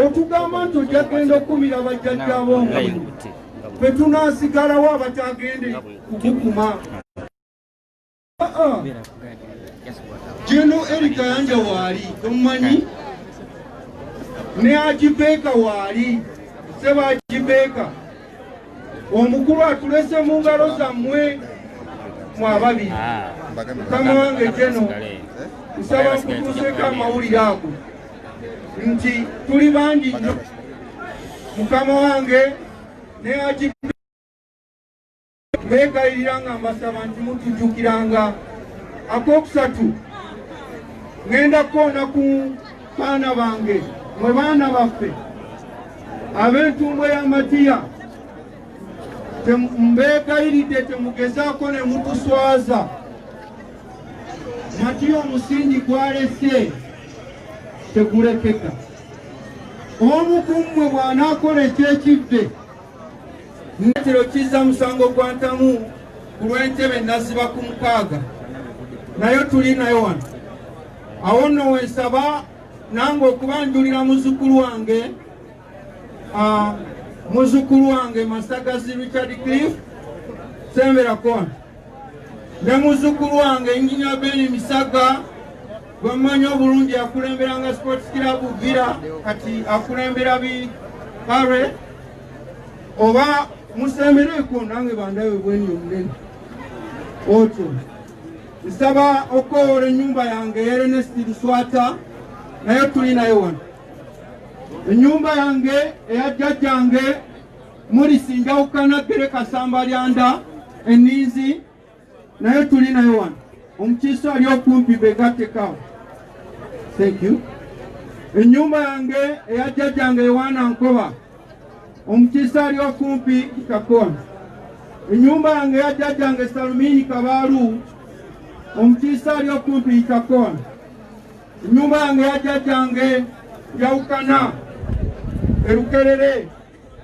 okugamba nti ojja genda okukumira bajjajjabo nga fe tunasigalawo abatagende kukukuma jeno erika yanja waali tomumanyi ne agibeeka waali seba agibeeka omukulu atulese mu ngalo zammwe mu ababiri ah. mukama wange jeno nsaba nkutuuseko amawulire ago nti tuli bangi nnyo mukama wange neaki Mbegayirira nga mbasaba nti mutujjukiranga. Akokusatu, ŋenda kukoona ku baana bange mwe baana baffe ab'entumbwe ya Matiya mbeegayiridde temugezaako ne mutuswaza matiya omusingi gwalese tegulekeka omu ku mmwe bw'anaakola ekyekivve Kino kizza musango gwa ntamu ku lw'entebe naziba ku mukaaga nayo tuli nayo wano awo nno wensaba nange okuba njulira muzukulu wange muzukulu wange masagazi richard cliff semberakona ne muzzukulu wange enginia beni misaga gwemmanyi obulungi akulemberanga sports club vira kati akulembera bi pare oba musembereko nange bandawe bweni omunene otyo nsaba okukowoola ennyumba yange erenesti luswata naye tuli naye wano ennyumba yange eya jjajjange mulisi njawukana bere kasamba lyanda eninzi naye tuli naye wano omukiisa ali okumpi begatekawo thank you enyumba yange eya jjajjange yowaana nkoba omukiisa ali okumpi kakona enyumba yange eya jjajjange salumiini kabaalu omukiisa ali okumpi kakona Enyumba yange ya jjajjange yawukana erukerere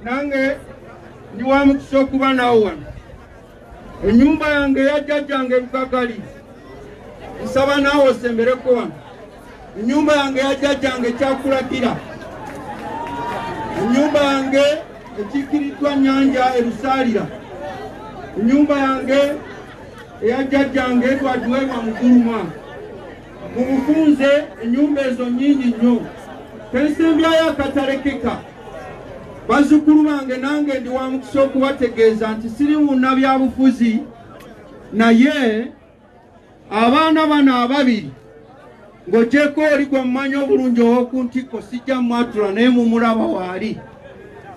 nange ndi wa mukisa okuba nawo wano enyumba yange ya jjajjange lukagali nsaba naawe osembereko wano enyumba yange ya jjajjange kyakulagira enyumba yange ekiikiriddwa nyanja erusaalira enyumba yange eya jjajjange twagiweebwa muguluma Mu bufunze ennyumba ezo nnyingi nnyo tensembyayo akatalekeka. Bazzukulu bange nange ndi wa mukisa okubategeeza nti siri wunna byabufuzi naye abaana bano ababiri ng'ogyeko oli gwe mumanyi obulungi ow'oku ntikko sijja mwatula naye mumulaba waali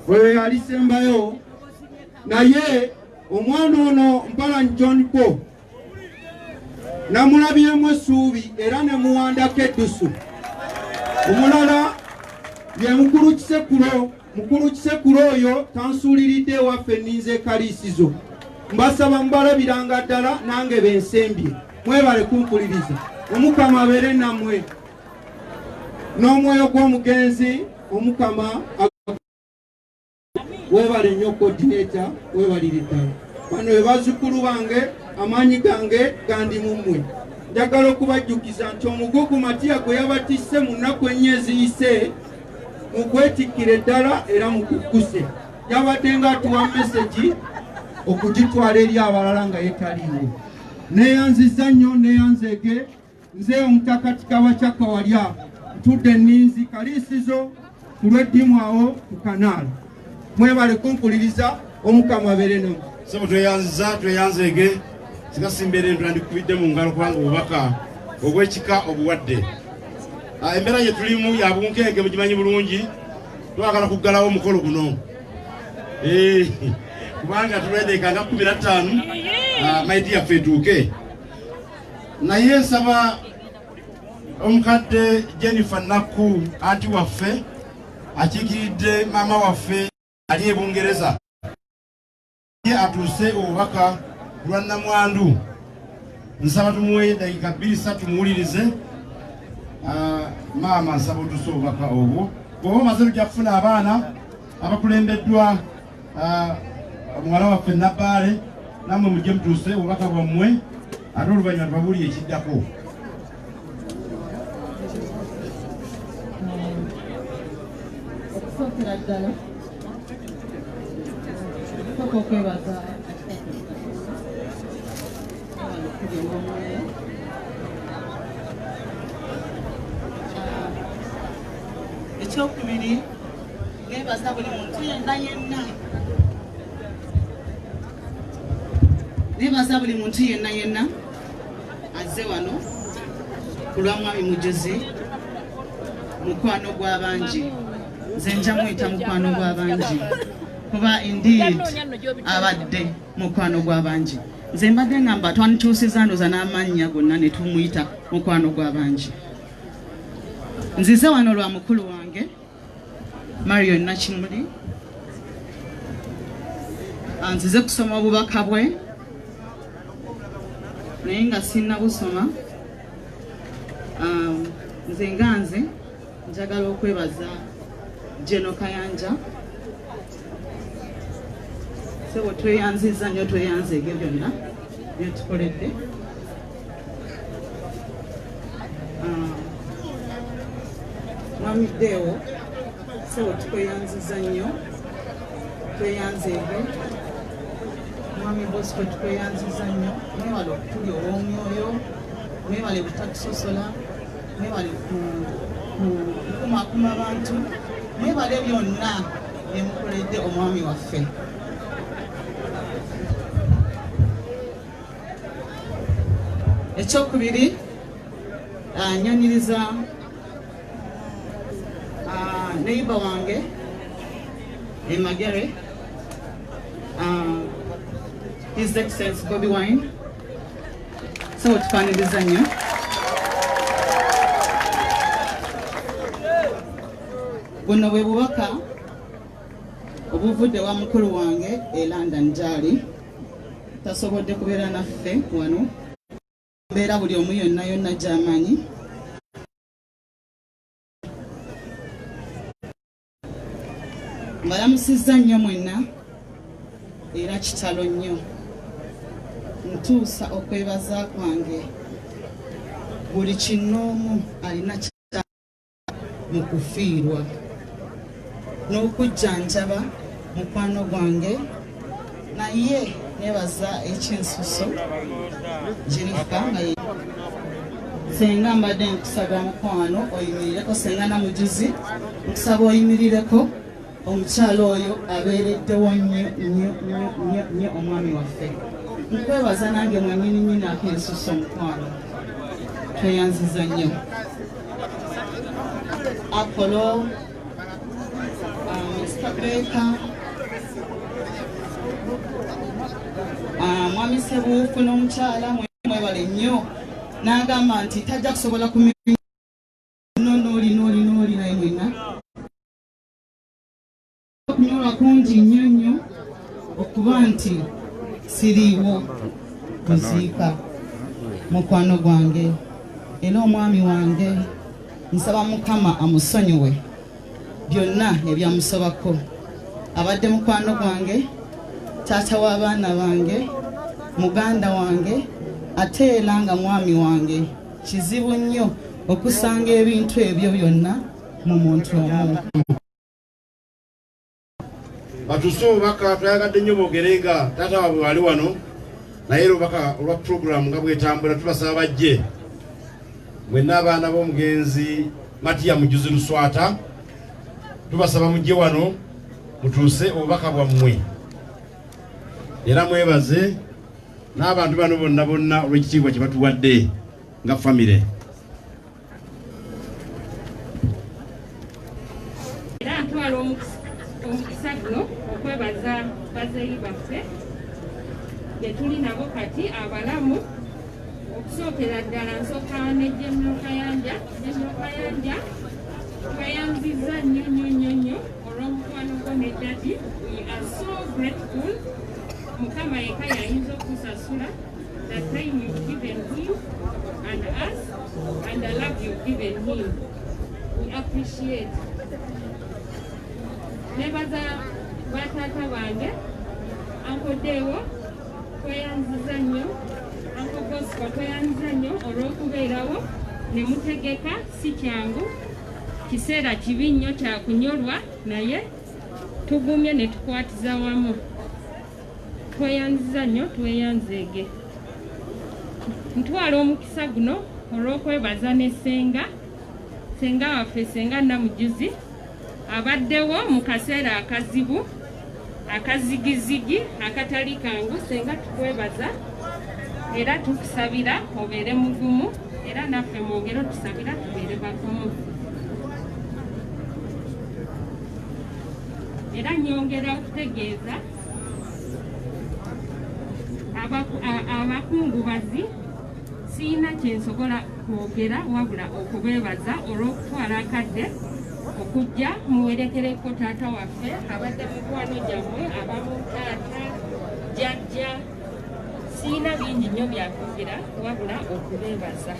oyo yalisembayo naye omwana ono mpalanyi john paul namulabyemu essuubi era ne muwandako eddusu omulala ye mukulu kisekulo mukulu kisekulo oyo tansuuliridde ewaffe nninza ekaliisizo mbasaba mubalabiranga ddala nange bensembye mwebale kumpuliriza omukama abeere nammwe n'omwoyo gw'omugenzi omukama webale nnyo kodineta webalire ddala bano bebazukulu bange amaanyi gange gandi mu mmwe njagala okubajjukiza nti omugugu matiya gwe yabatisse mu nnaku ennya eziyise mukwetikkire ddala era mukukkuse yabadde nga atuwa mesegi okugitwala eri abalala nga yetaliiwo neyanziza nnyo neyanzeege Nze omutaka Kikawa kya Kawalya ntudde nninzi kaliisizo ku lw'eddimu awo ku kanaala. Mwebale kumpuliriza omukama abeere namu. Sebo tweyanziza tweyanzeege singa simbeera ento nandikubidde mu ngalo kubanga obubaka obw'ekika obuwadde. Ah, embeera gye tulimu ya bunkeege mugimanyi bulungi twagala kuggalawo omukolo guno eh, kubanga tulwedekanga kumi na ttaanu ah, maidi yaffe etuuke naye nsaba omukadde Jennifer Nakku anti waffe akiikiridde maama waffe ali e Bungereza ye atuuse obubaka ku lwa nnamwandu nsaba tumuwe dakiika bbiri satu muwulirize ah, maama nsaba otuuse obubaka obwo bwoba omaze lujja kufuna abaana abakulembeddwa Ah, muwala waffe nabbaale nammwe mujje mutuuse obubaka bwammwe ate oluvannyuma tubabuli ekiddako okusookera ddala okusoka okwebaza ekyokubiri nebaza buli muntu yenna yenna nebaza buli muntu yenna yenna azze wano ku lwa mwami mujuzi mukwano gw'abangi nze nja muyita mukwano gw'abangi kuba indeed abadde mukwano gw'abangi nze mbadde ngamba twanituusiza ndoza n'amannya gonna ne tumuyita mukwano gw'abangi nzize wano lwa mukulu wange Marion Nakimuli anzize kusoma obubaka bwe naye nga sinna busoma um, nze nga nze njagala okwebaza Geno Kayanja sebo tweyanziza nyo tweyanza ebyo byonna byetukoledde ah, mwami dewo sebo tweyanziza nyo tweyanza ebyo mwami bosco tweyanziza nyo mwebale okutuli olwomwoyo mwebale butakusosola mwebale kukumakuma bantu mwebale byonna byemukoledde omwami waffe ekyokubiri ah, nyonyiriza ah, neiba wange emagere ah, his excellence bobi wine Sawa, tufaniriza nnyo. Buno bwe bubaka obuvudde wa mukulu wange e London gyali tasobodde kubeera naffe wano mbeera buli omu yonna yonna gyamanyi mbalamusizza nnyo mwenna era kitalo nnyo ntuusa okwebaza kwange buli kinnoomu alina kita mu kufiirwa n'okujjanjaba mukwano gwange naye nebaza ekyensuso jenifa nga ye senga mbadde nkusaba mukwano oyimirireko senga namujuzi nkusaba oyimirireko omukyalo oyo abeereddewo nnyo nnyo nnyo nnyo nnyo omwami waffe nkwebaza nange mwenyini nyini akensusa omukwano tweyanziza nnyo apolo Ah, mwami sebuufu n'omukyala mwebale nnyo n'agamba nti tajja kusobola ku nonooli nooli nooli naye mwena okunyolwa kungi nnyo nnyo okuba nti siriiwo kuziika mukwano gwange era omwami wange Nsaba Mukama amusonyiwe byonna ebyamusobako. Abadde mukwano gwange, taata w'abaana bange, muganda wange ate era nga mwami wange. Kizibu nnyo okusanga ebintu ebyo byonna mu muntu omu. batuse obubaka twayagadde nnyo boogere nga taata waabwe wali wano naye lubaka olwa puroguramu nga bwetambula tubasaba bajje mwenna abaana b'omugenzi matiya mujuzi luswata tubasaba mujje wano mutuuse obubaka bwammwe era mwebaze n'abantu bano bonna bonna olw'ekitiibwa kye batuwadde nga famire era ntwala omukisa guno okwebaza bazeeyi baffe gyetuli nabo kati abalamu okusookera ddala nsooka nejemyo kayanja jemyo kayanja tweyanziza nnyo nnyo nnyo nnyo olw'omukwano gwo ne dadi we are so grateful mukama yeka yayinza okusasula nebaza batata bange ankodeewo tweyanziza nnyo anko bosco tweyanziza nnyo olw'okubeerawo ne mutegeka si kyangu kiseera kibi nnyo kyakunyolwa naye tugumye ne tukwatiza wamu tweyanziza nnyo tweyanzeege ntwala omukisa guno olw'okwebaza ne senga senga waffe senga namujuzi abaddewo mu kaseera akazibu akazigizigi akatali kangu senga tukwebaza era tukusabira obeere mugumu era naffe mwongere otusabira tubeere bagumu era nyongera okutegeeza abakungubazi siyina kyensobola kwogera wabula okubeebaza olw'okutwala akadde okujja muwerekereko taata waffe abadde mukwano gyammwe abamu taata jajja siyina bingi nnyo byakugira wabula okubeebaza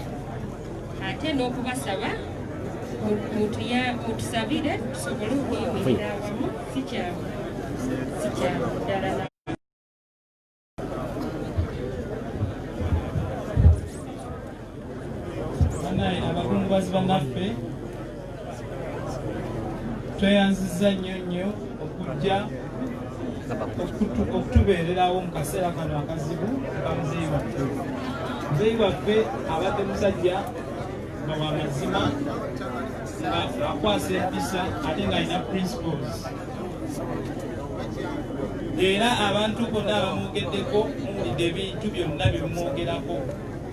ate n'okubasaba mutusabire tusobole okuyimirira awamu sikyamu sikyamu ddala abakungubazi banaffe tweyanziza nnyo nnyo okujja okutubeererawo mu kaseera kano akazibu ka muzeeyi waffe muzeeyi waffe abadde musajja nga wa mazima nga akwasa empisa ate ng'alina principles era abantu bonna abamwogeddeko muwulidde ebintu byonna byemumwogerako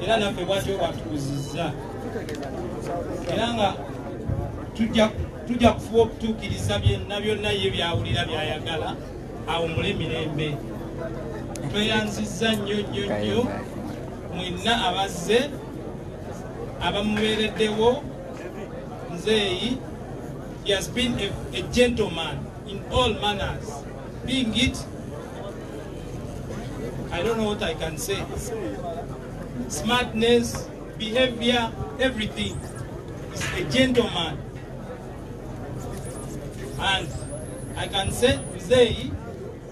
era naffe bwatyo bwatukuziza era nga tujja kufuba okutuukiriza byonna byonna ye byawulira byayagala awumule mirembe tweyanzizza nnyo nnyo nnyo mwenna abazze abamubeereddewo nzeeyi he has been a, a gentleman in all manners being it I don't know what I can say smartness behavior, everything. He's a gentleman. And I can say mzeeyi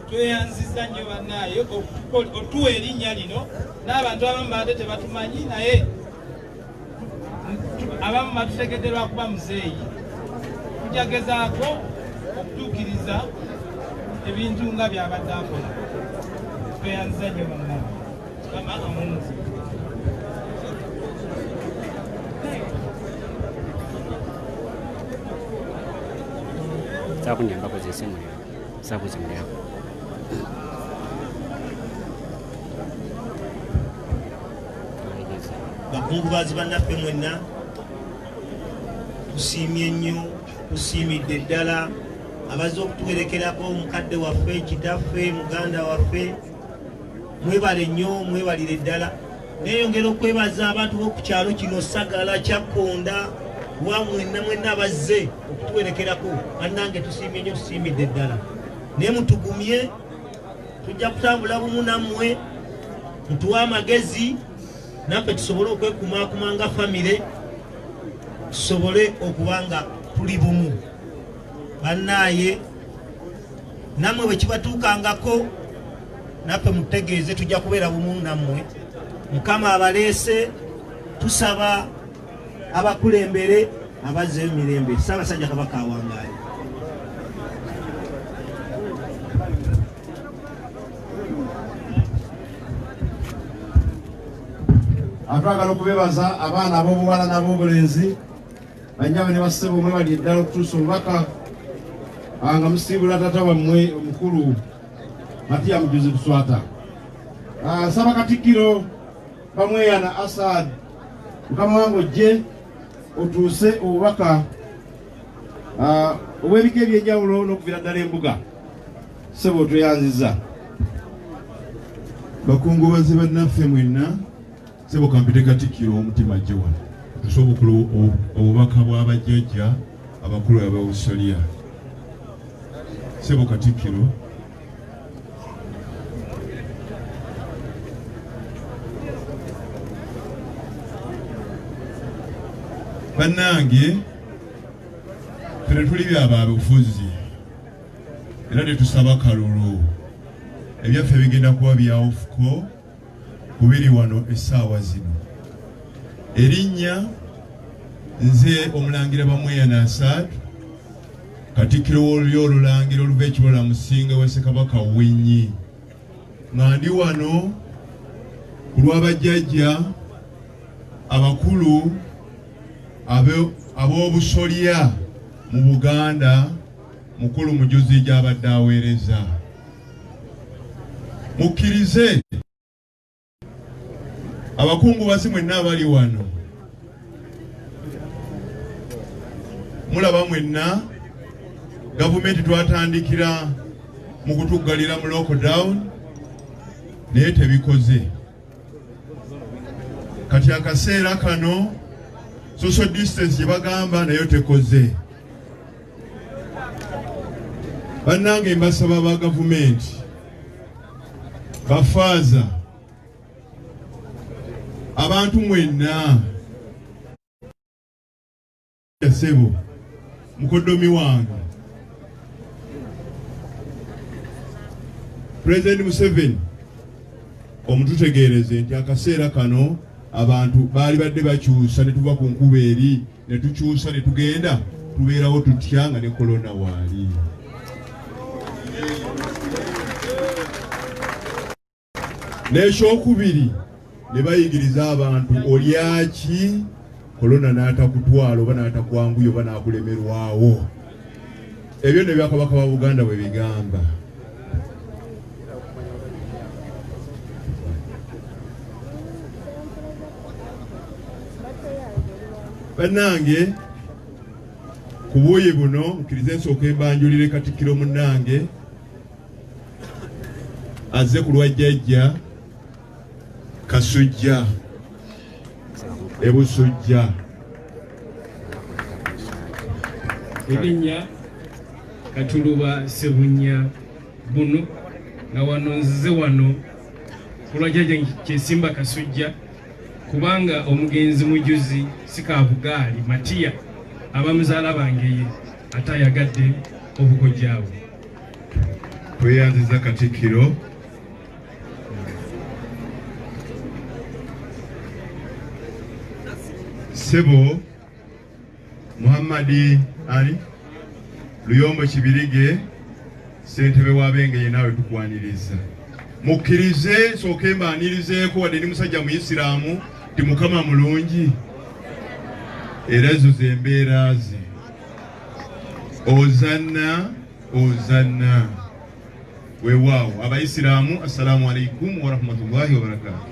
tweyanziza nnyo bannaaye otuwa erinnya lino n'abantu abamu baate tebatumanyi naye abamu batutegedde lwakuba muzeeyi tujagezaako okutuukiriza ebintu nga byabadde akola tweyanziza nnyo bannaaye sakunyamba kozese muliro sakuze muliro bakungubazi bannaffe mwenna tusiimye nnyo tusiimidde ddala abazze okutuwerekerako omukadde waffe kitaffe muganda waffe mwebale nnyo mwebalire ddala neyongera okwebaza abantu b'oku kyalo kino sagala kyakkonda wa mwenna mwenna abazze okutuwerekerako bannange tusiimye nnyo tusiimidde ddala naye mutugumye tujja kutambula bumu nammwe mutuwe amagezi naffe tusobole okwekumakuma nga famire tusobole okuba nga tuli bumu bannaaye nammwe bwe kibatuukangako naffe mutegeeze tujja kubeera bumu nammwe mukama abaleese tusaba abakulembere abazzeyo mirembe ssaabasajja kabaka awangaale atwagala okubebaza abaana ab'obuwala n'ab'obulenzi Banyama ne bassebo mwebali eddala okutuusa obubaka ah, nga musiibula tata wammwe omukulu Matiya Mujuzi Luswata. Ah, Nsaba Katikkiro Bamweyana Asad mukama wange ojje otuuse obubaka ah, obw'ebika eby'enjawulo n'okuviira ddala embuga ssebo tweyanziza bakungubazi bannaffe mwenna Sebo kampite Katikkiro w'omutima ajje wano tusa obukulu obubaka bw'abajjajja abakulu aba Australia. Sebo Katikkiro bannange fere tuli byabaabufuzi era tetusaba kalulu ebyaffe bigenda kuba byawufuko ku biri wano essaawa zino. Erinnya nze Omulangira Bamweyana Asaad, Katikkiro w'Olulyo Olulangira oluva ekibola Musinga wa Ssekabaka Winyi, nga ndi wano ku lwa bajjajja abakulu ab'obusolya mu Buganda, mukulu mujuzi gy'abadde aweereza. mukkirize abakungubazi mwenna abali wano mulaba mwenna gavumenti twatandikira mu kutuggalira mu lockdown naye tebikoze kati akaseera kano social distance gye bagamba nayo tekoze bannange mbasaba ba gavumenti bafaaza abantu mwenna yasebo mukoddomi wange pulezidenti museveni omututegeereze nti akaseera kano abantu baali badde bakyusa ne tuva ku nkuba eri ne tukyusa ne tugenda tubeerawo tutya nga ne kolona waali n'ekyokubiri ne bayigiriza abantu olyaki kolona n'atakutwala oba n'atakwanguya oba n'akulemerwawo ebyo ne byakabaka ba buganda bwe bigamba bannange ku buuyi buno nkirize nsooka embanjulire katikkiro munnange azze ku lwa jjajja kasujja ebusujja erinnya katuluba sebunya bunu nga wano nzize wano kulwa jjaja kyesimba kasujja kubanga omugenzi mujuzi sikabugaali matiya abamuzaala bangeye ate ayagadde obukojjaabwe tweyanziza katikkiro sebo Muhammad Ali Luyombo Kibirige ssentebe wa Bengeye naawe tukwaniriza mukkirize nsooke mbaanirizeeko wadde ndi musajja muyisiraamu ti mukama mulungi era ezo ze mbeera ze ozanna ozanna Weewaawo abayisiraamu assalaamu alaikum warahmatullahi wabarakaatu.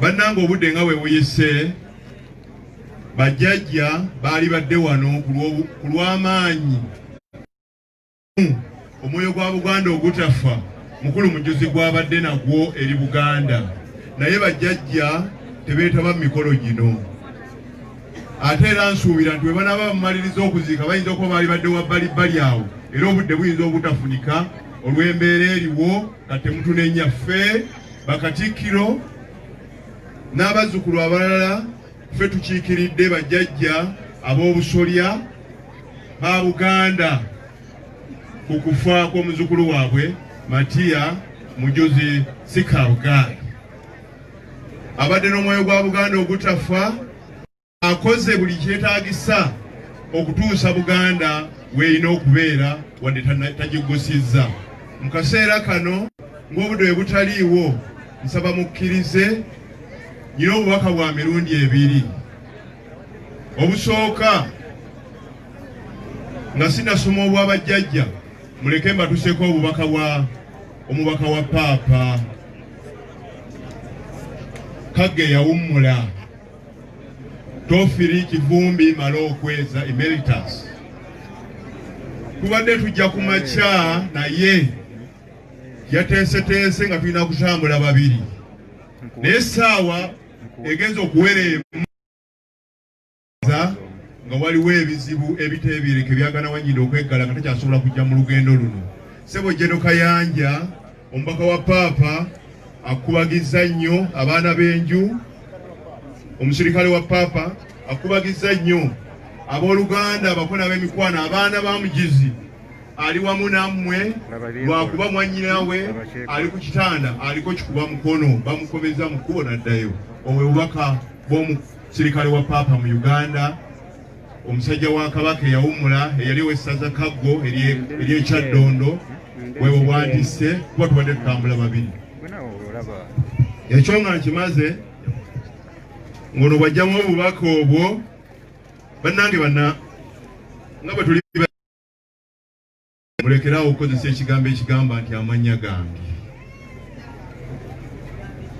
Bannanga obudde nga bwe buyise, bajjajja baali badde wano ku lw'amaanyi omwoyo gwa Buganda ogutafa mukulu mujuzi gwabadde nagwo eri Buganda naye bajjajja tebeetaba mu mikolo gino. ate era nsuubira nti bwe banaaba bamumaliriza okuziika bayinza okuba baali badde wa bbalibbali awo era obudde buyinza obutafunika olw'embeera eriwo nga temutunenya ffe bakatikkiro n'abazzukulu abalala ffe tukiikiridde bajjajja ab'obusolya ba buganda ku kufa kw'omuzzukulu waabwe matiya mujuzi sikabuganda abadde n'omwoyo gwa Buganda ogutafa akoze buli kyetaagisa okutuusa Buganda weerina okubeera wadde tagigusizza mu kaseera kano ng'obudde we butaliiwo nsaba mukkirize nyina obubaka bwa mirundi ebiri obusooka nga sinasoma obwabajjajja muleke mbatuseeko obubaka bwa omubaka wa paapa kagge yawummula tofiri kivumbi mala okweza emeritus tubadde tujja ku makya naye yateeseteese nga tulina kutambula babiri naye saawa egenza okuwereemu nga waliwo ebizibu ebiteebereke byagana wanyinda okweggala nga takyasobola kujja mu lugendo luno sebo jeno kayanja omubaka wa paapa akubagizza nnyo abaana b'enju omusirikale wa paapa akubagizza nnyo abooluganda abako n'ab'emikwano abaana ba mugizi ali wamu nammwe lwakuba mwannyinawe ali ku kitanda aliko kikuba mukono bamukomeza mu kkubo naddayo obwe bubaka bw'omu Sirikale wa Paapa mu Uganda, omusajja wa Kabaka eyawummula eyali owessaza Kaggo ery'ekyaddondo bwebo bwantisse kuba tubadde tutambula babiri ekyo nga nkimaze ngono bwajjamu obubaka obwo bannange banna nga bwetuli Mulekeraawo okukozesa ekigambo ekigamba nti amannya gange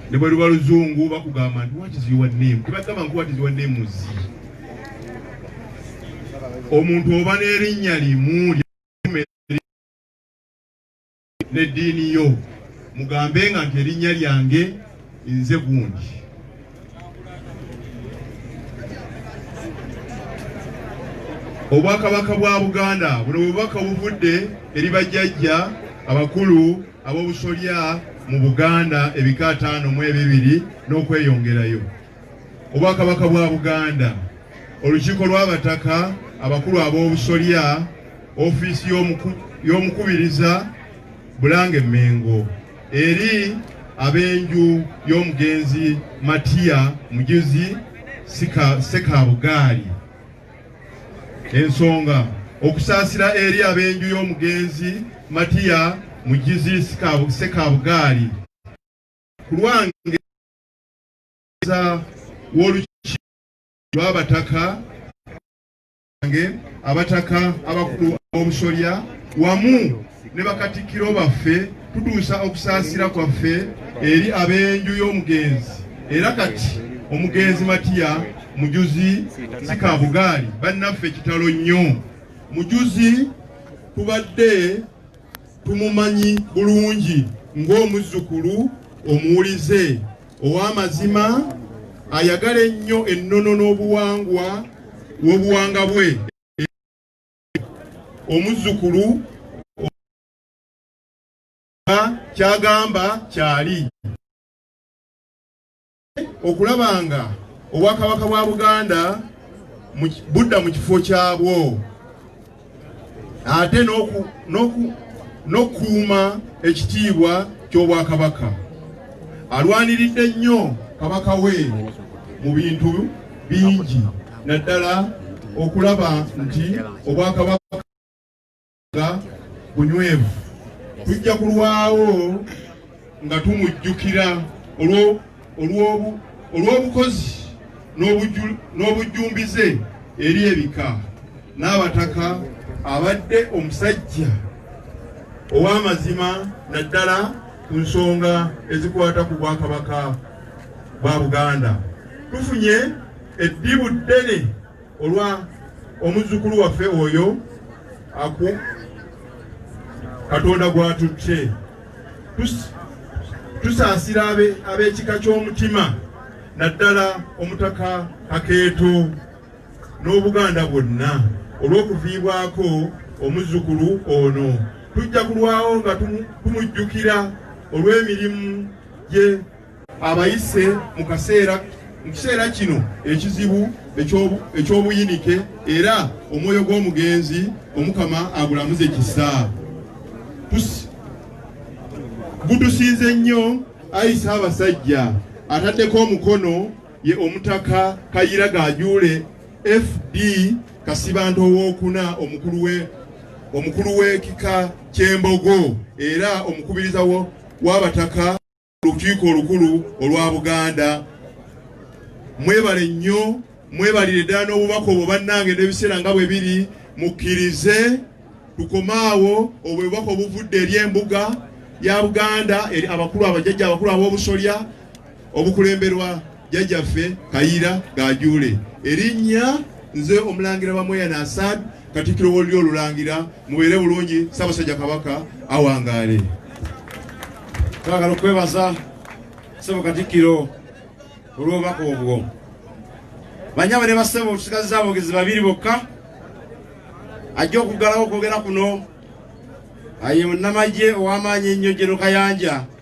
ne bwe luba luzungu bakugamba nti what is your name tebagamba nti what is your name zi omuntu oba n'erinnya limu n'eddiini yo mugambe nga nti erinnya lyange nze gundi obwakabaka bwa buganda buno bubaka buvudde eri bajjajja abakulu ab'obusolya mu buganda ebika ataano mu ebibiri n'okweyongerayo obwakabaka bwa buganda olukiiko lw'abataka abakulu ab'obusolya ofiisi y'omukubiriza bulange mengo Eri ab'enju y'omugenzi Matiya Mujuzi Ssekaabugaali ensonga okusaasira eri ab'enju y'omugenzi Matiya Mujuzi Ssekaabugaali ku lwange w'olukiiko lw'abataka bange abataka abakulu b'obusolya wamu ne bakatikkiro baffe tutuusa okusaasira kwaffe eri ab'enju y'omugenzi era kati omugenzi matiya mujuzi sikabugaali bannaffe kitalo nnyo mujuzi tubadde tumumanyi bulungi ng'omuzzukulu omuwulize ow'amazima ayagala ennyo ennono n'obuwangwa w'obuwanga bwe omuzzukulu kyagamba kyali okulaba nga obwakabaka bwa Buganda budda mu kifo kyabwo ate n'okukuuma ekitiibwa ky'obwakabaka. Alwaniridde nnyo kabaka we mu bintu bingi naddala okulaba nti obwakabaka bunywevu tujja kulwawo nga tumujjukira olw'obukozi n'obujjumbize eri ebika n'abataka abadde omusajja ow'amazima naddala ku nsonga ezikwata ku bwakabaka bwa buganda tufunye eddibu ddene olwa omuzzukulu waffe oyo aku katonda gwatutte tusaasira ab'ekika ky'omutima naddala omutaka kakeeto n'obuganda bwonna olw'okuviibwako omuzzukulu ono tujja kulwawo nga tumujjukira olw'emirimu gye abayise mu kaseera mu kiseera kino ekizibu eky'obuyinike era omwoyo gw'omugenzi omukama agulamuze kisa gutusinze nnyo ayi ssaabasajja ataddeko omukono ye omutaka kayira gajuule fd kasibanto owokuna omukulu we omukulu w'ekika ky'embogo era omukubiriza w'abataka Olukiiko olukulu olwa Buganda mwebale nnyo mwebalire ddala n'obubaka obwo bannange n'ebiseera nga bwe biri mukkirize tukome awo obwo bubaka obuvudde eri embuga ya Buganda eri abakulu abajajja abakulu ab'obusolya obukulemberwa jjajjaffe Kayira Gajuule erinnya nze omulangira Bamweyana Asad Katikkiro w'olulyo olulangira mubeere bulungi Ssaabasajja Kabaka awangaale twagala okwebaza ssebo Katikkiro olw'obubaka obwo banyabo ne bassebo tusigaziza aboogezi babiri bokka ajja okuggalawo okwogera kuno aye munnamagye ow'amaanyi ennyo Jeno Kayanja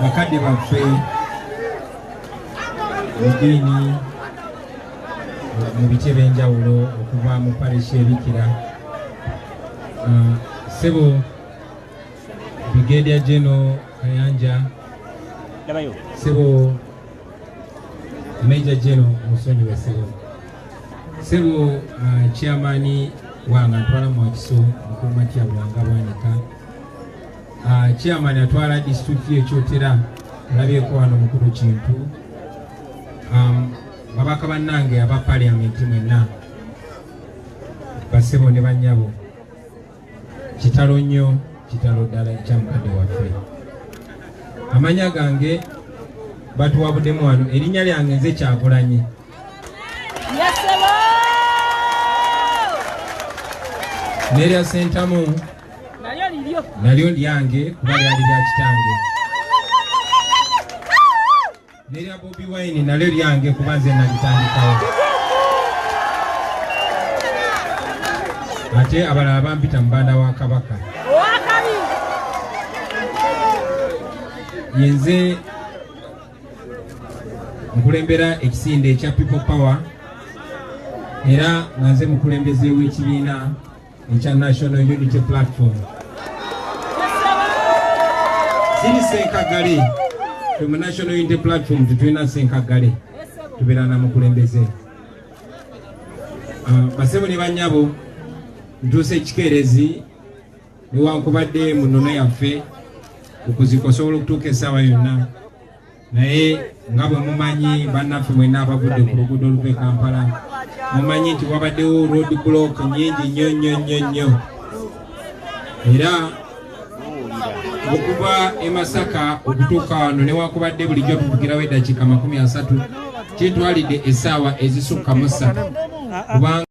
bakadde baffe ediini mu bice by'enjawulo okuva mu parish ebikira uh, sebo brigadier general kayanja sebo Major General Musonyi Wesebo Sebo uh, chairman wanga ntwala mu akiso mukuma kya wanga bwanika uh, chairman atwala district ye chotera labye ko ano mukuru kintu um babaka banange aba parliament mwenna basebo ne banyabo kitalo nnyo kitalo ddala ekya mukadde waffe amanya gange batuwabudemu wano erinnya lyange nze kyagulanyi nerya sentamu nalyo lyange kuba lyali lya kitange nerya bobi wine nalyo lyange kuba nze nalitandikawo ate abalala bampita mubanda wa kabaka yenze nkulembera ekisinde ekya people power era nga nze mukulembeze w'ekibiina ekya National Unity Platform ziri senkagale fe mu National Unity Platform tetulina senkagale tubeera na mukulembeze ah, basebo ne banyabo ntuusa ekikeerezi newankubadde mu nnono yaffe okuzikosobola okutuuka essaawa yonna naye nga bwe mumanyi bannaffe mwenna abagudde ku luguudo oluva e kampala mumanyi nti wabaddewo road block nyingi nnyo nnyo nnyo nnyo era okuva e masaka okutuuka wano newakubadde bulijjo tuvugirawo eddakiika makumi asatu kitwalidde essaawa ezisukka mu ssatu kubanga